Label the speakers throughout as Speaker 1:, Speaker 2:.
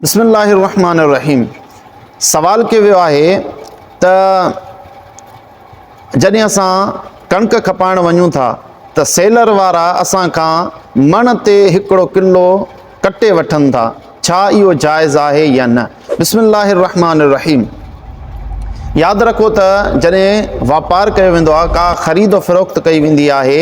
Speaker 1: بسم الله الرحمٰن الرحيم سوال ڪيو ويو آهي ته جڏهن اسان ڪڻڪ کپائڻ وڃون ٿا ته سيلر وارا اسان کان مڻ تي هڪڙو ڪلو ڪٽي وٺن ٿا ڇا اهو جائز آهي يا نه بسم الله الرحمٰن الرحيم ياد رکو ته جڏهن واپار ڪيو ويندو آهي ڪا خريد و فروخت ڪئي ويندي آهي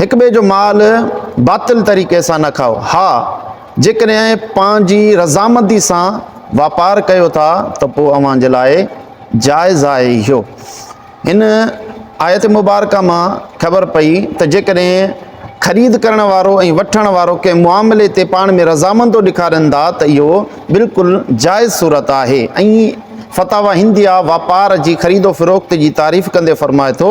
Speaker 1: هڪ ٻئي جو مال باطل طريقي سان نه کائو، ها جيڪڏهن پنهنجي رضامندي سان واپار ڪيو ٿا ته پوء اوهان جي لاء جائز آهي اهو. هن آيت مبارڪه مان خبر پئي ته جيڪڏهن خريد ڪرڻ وارو ۽ وٺڻ وارو ڪنهن معاملي تي پاڻ ۾ رضامندو ڏيکارين ٿا ته اهو بلڪل جائز صورت آهي ۽ فتاويٰ هنديه واپار جي خريد و فروخت جي تعريف ڪندي فرمائي ٿو،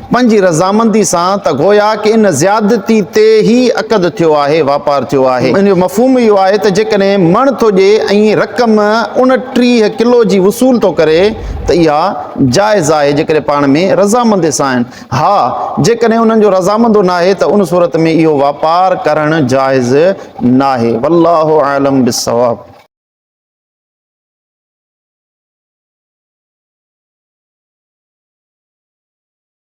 Speaker 1: پنهنجي رضامندي سان ته گويا ڪه ان زيادتي تي ئي عقد ٿيو آهي، واپار ٿيو آهي. ان جو مفهوم اهو آهي ته جيڪڏهن مڻ ٿو ڏئي ۽ رقم اڻٽيهه ڪلو جي وصول ٿو ڪري ته اها جائز آهي جيڪڏهن پاڻ ۾ رضامندي سان آهن. ها جيڪڏهن انهن جو رضامندو ناهي ته ان صورت ۾ اهو واپار ڪرڻ جائز ناهي. والله اعلم بالصواب.